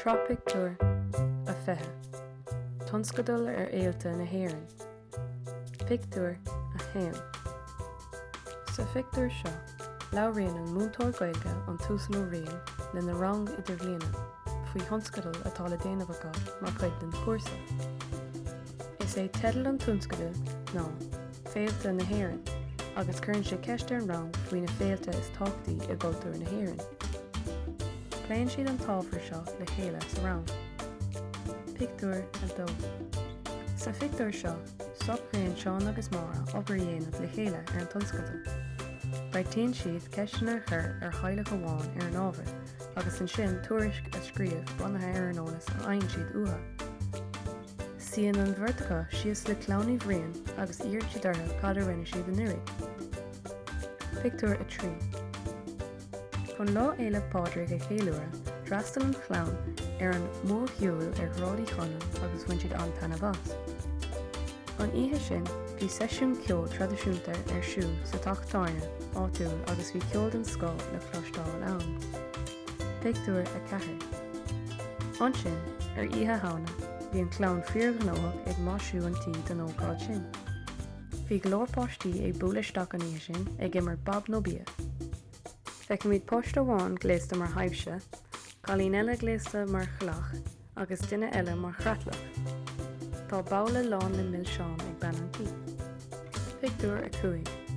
Sraith Pictiúr a 20, Tionscadal ar Fhéilte na hÉireann, Pictiúr 1 Sa phictiúr seo, labhraíonn an múinteoir Gaeilge an tUasal Ó Riain lena rang Idirbhliana faoi thionscadal atá le déanamh acu mar chuid den chúrsa. Is é teideal an tionscadail ná 'Féilte na hÉireann' agus cuireann sé ceist ar an rang faoi na féilte is tábhachtaí i gcultúr na hÉireann. Pléann siad an t-ábhar seo le chéile sa rang. Pictiúr 2 Sa phictiúr seo, socraíonn Seán agus Máire obair a dhéanamh le chéile ar an tionscadal. Beartaíonn siad ceisteanna a chur ar theaghlach amháin ar an ábhar agus ansin tuairisc a scríobh bunaithe ar an eolas a fhaigheann siad uathu. Suíonn an bheirt acu síos le clann Uí Bhriain agus iarrann siad orthu cad a rinne siad anuraidh. Pictiúr 3 Chun Lá Fhéile Pádraig a cheiliúradh, d'fhreastail an chlann ar an mórshiúl ar Shráid Uí Chonaill agus bhain siad an-taitneamh as. An oíche sin, bhí seisiún ceoil traidisiúnta ar siúl sa teach tábhairne áitiúil agus bhí ceol den scoth le cloisteáil ann. Pictiúr 4 Ansin, ar Oíche Shamhna, bhí an chlann fíorghnóthach ag maisiú an tí don ócáid sin. Bhí go leor páistí ag bualadh isteach an oíche sin ag imirt Bob nó Bia. Feicimid páiste amháin gléasta mar thaibhse, cailín eile gléasta mar chailleach, agus duine eile mar chreatlach. Tá babhla lán le milseáin ag bean an tí. Pictiúr 5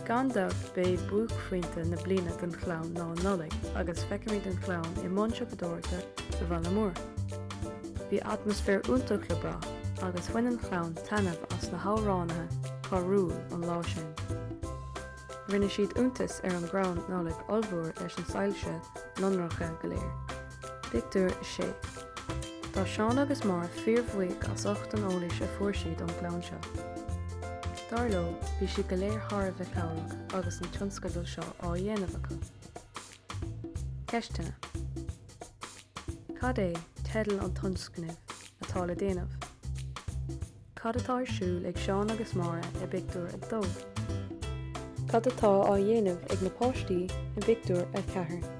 Gan dabht b'é buaicphointe na bliana don chlann ná an Nollaig agus feicimid an chlann i mbun siopadóireachta sa bhaile mór. Bhí atmaisféar iontach le brath agus bhain an chlann taitneamh as na hamhránaithe carúil an lá sin. Rinne siad iontas ar an gcrann Nollag ollmhór leis na soilse lonracha go léir. Pictiúr 6 Tá Seán agus Máire fíorbhuíoch as ucht an eolais a fuair siad ón gclann seo. Dar leo, bhí siad go léir thar a bheith cabhrach agus an tionscadal seo á dhéanamh acu. Ceisteanna Cad é teideal an tionscnaimh atá le déanamh? Cad atá ar siúl ag Seán agus Máire i bpictiúr a dó? Cad atá á dhéanamh ag na páistí i bpictiúr a ceathair?